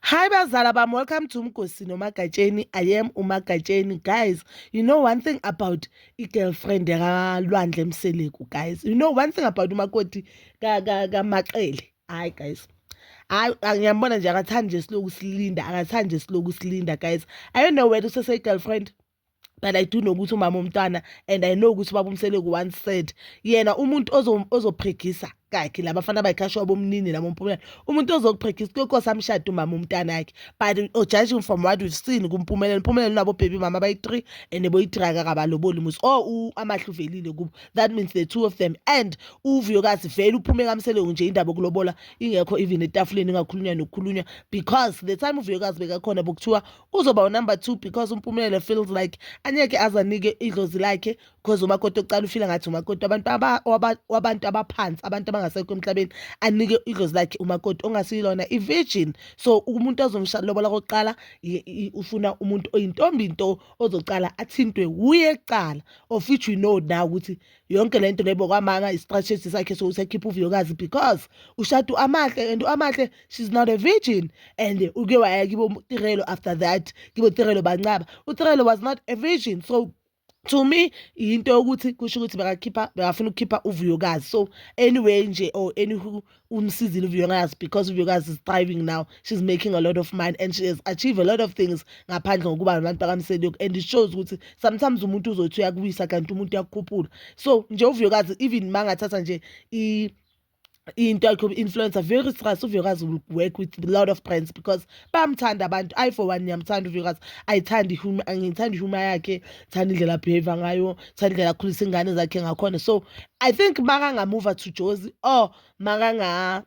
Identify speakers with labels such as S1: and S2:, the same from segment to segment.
S1: Hi bazala bam welcome to Mgosi noMagatsheni I am uMagatsheni guys you know one thing about i-girlfriend yakalwandle mseleku guys you know one thing about umakoti kamaqele hayi guys hayi ngiyambona nje akathandi nje siloku silinda akathandi nje siloku silinda guys i don't know whether usese-girlfriend but i do know ukuthi umama omntwana and i know ukuthi ubaba umseleku one said yena umuntu ozophregisa kakhe la bafana bayikhashwa bomnini la bompumela umuntu ozokuphregisa kuyokosa amshade umama umntana yakhe but oh, judging from what we've seen kumpumelelo impumelelo nabo baby mama bayi-three and boyi-three akakabaloboli muzi o oh, amahle uvelile kubo that means the two of them and uvuyokazi vele uphume kamseleku nje indaba okulobola ingekho even etafuleni ingakhulunywa nokukhulunywa because the time uvuyokazi bekakhona bokuthiwa uzoba unumber two because umpumelelo feels like anyeke azanike idlozi lakhe because umakoti okucala ufila ngathi umakoti abantu wabantu abaphansi abantu abangasekho emhlabeni anike idlozi lakhe umakoti ongasiyilona i-virgin so umuntu ozomshalobola kokuqala ufuna umuntu oyintombi nto ozocala athintwe wuye kucala of which we know now ukuthi yonke le nto lebo kwamanga isistrategy sakhe sokusekhipha uviyokazi because ushadu amahle and amahle she's not a virgin and uke waya kibo tirelo after that kibo tirelo bancaba utirelo was not a virgin so to me yinto yokuthi kusho ukuthi bekakhipha bekafuna ukukhipha uvuyokazi so anyway nje or anywho umsizile uVuyokazi because uVuyokazi is thriving now she's making a lot of money and she has achieved a lot of things ngaphandle ngokuba nabantu bakamseliyoku and it shows ukuthi sometimes umuntu uzothi uyakuwisa kanti umuntu uyakukhuphula so nje uVuyokazi even mangathatha nje i into yakhe influencer very stress uVuyokazi will work with a lot of brands because bamthanda abantu i for one ngiyamthanda uvikas ayithandi ngithanda ihuma yakhe thanda indlela abehave ngayo thanda indlela akhulisa ingane zakhe ngakhona so i think makangamuva to jozi or makanga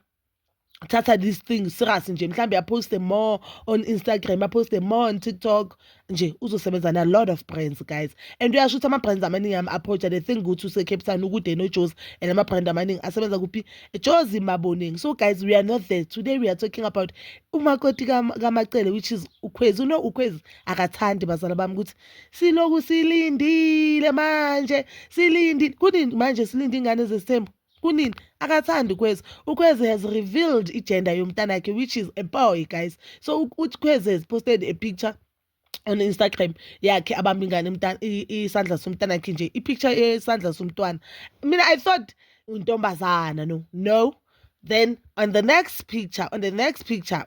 S1: thatha this thing serious nje mhlawumbe aposte more on instagram aposte more on tiktok nje uzosebenza na lot of brands guys and uyasho ukuthi ama-brands amaningi ami aphoja the thing ukuthi usecape town ukude nojozi and ama-brand amaningi asebenza kuphi jozi maboningi so guys we are not there today we are talking about umakoti kamacele which is ukhwezi uno ukhwezi akathandi bazala bami ukuthi siloku silindile manje silindile kunini manje silinde ingane zesithembu kunini akathandi ukhwezi ukhwezi has revealed igender yomntanakhe which is a boy guys so uthi khwezi has posted a picture on instagram yakhe abamba ingane isandla somntanakhe nje ipicture yesandla somntwana mina i thought untombazana no no then on the next picture on the next picture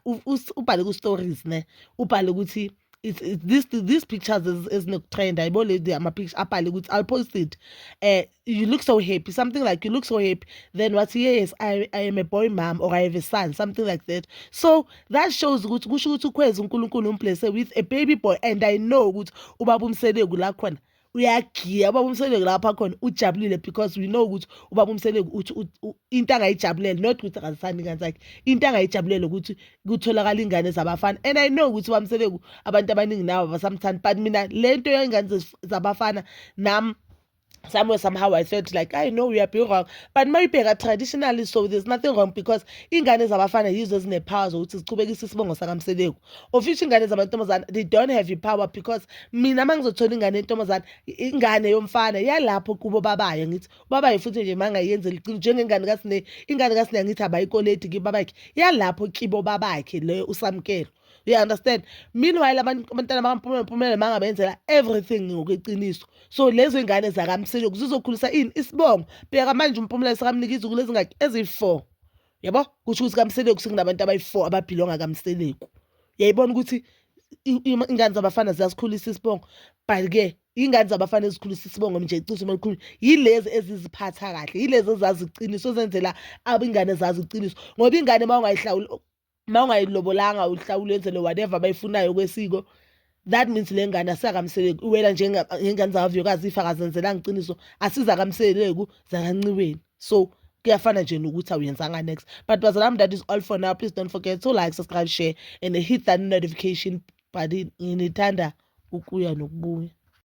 S1: ubhale ku-stories ne ubhale ukuthi it's, it's this these pictures ezinokutrenda yabo lady amapicture abhale ukuthi i'll post it uh, you look so happy something like you look so happy then wathi yes I, i am a boy mom or i have a son something like that so that shows ukuthi kusho ukuthi ukhweza unkulunkulu umblese with a baby boy and i know ukuthi ubaba umseleku la khona uyagiya ubaba umseleki lapha khona ujabulile because we know ukuthi ubaba umseleki uthi into angayijabulele not ukuthi akazisani ingane zakhe into angayijabulele ukuthi kutholakala ingane zabafana and i know ukuthi ubaba umseleki abantu abaningi nawo abasamthandi but mina le nto yengane zabafana nam somewhere somehow I felt like I know we are being wrong but mayibheka traditionally so there's nothing wrong because ingane zabafana yizo ezinepower zokuthi ziqhubekise isibongo sakamseleku of which ingane zamantombazane they don't have your power because mina uma ngizothola ingane yentombazane ingane yomfana yalapho kubo babayo ngithi ubabayo futhi nje uma ngayenzela iqiniso njengengane kasine ingane kasine ngithi abayikoledi kibabakhe yalapho kibo babakhe leyo usamkelo you understand meanwhile abantwana bakampumelelo mangabenzela everything ngokweqiniso so lezo ingane zakamsilo zizokhulisa ini isibongo bheka manje umpumela sekamnika izukulu ezingaki eziyi-four yabo kusho ukuthi kamseleku sekunabantu abayi-four ababhilonga kamseleku yayibona ukuthi ingane zabafana ziyasikhulisa isibongo but-ke iy'ngane zabafana ezikhulisa isibongo nje icisho uma likhuluma yilezi eziziphatha kahle yilezi ezazi iqiniso ezenzela abingane zazi iqiniso ngoba ingane uma ungayihlawuli uma ungayilobolanga uhlawule wenzele whatever abayifunayo kwesiko that means le ngane asizakamseleki iwela njengengane zakavuyokazi ifa kazenzelanga iqiniso asizakamseleku zakanciweni so kuyafana nje nokuthi awuyenzanga next but bazala that is all for now please don't forget to like subscribe share and hit that notification button nginithanda ukuya nokubuya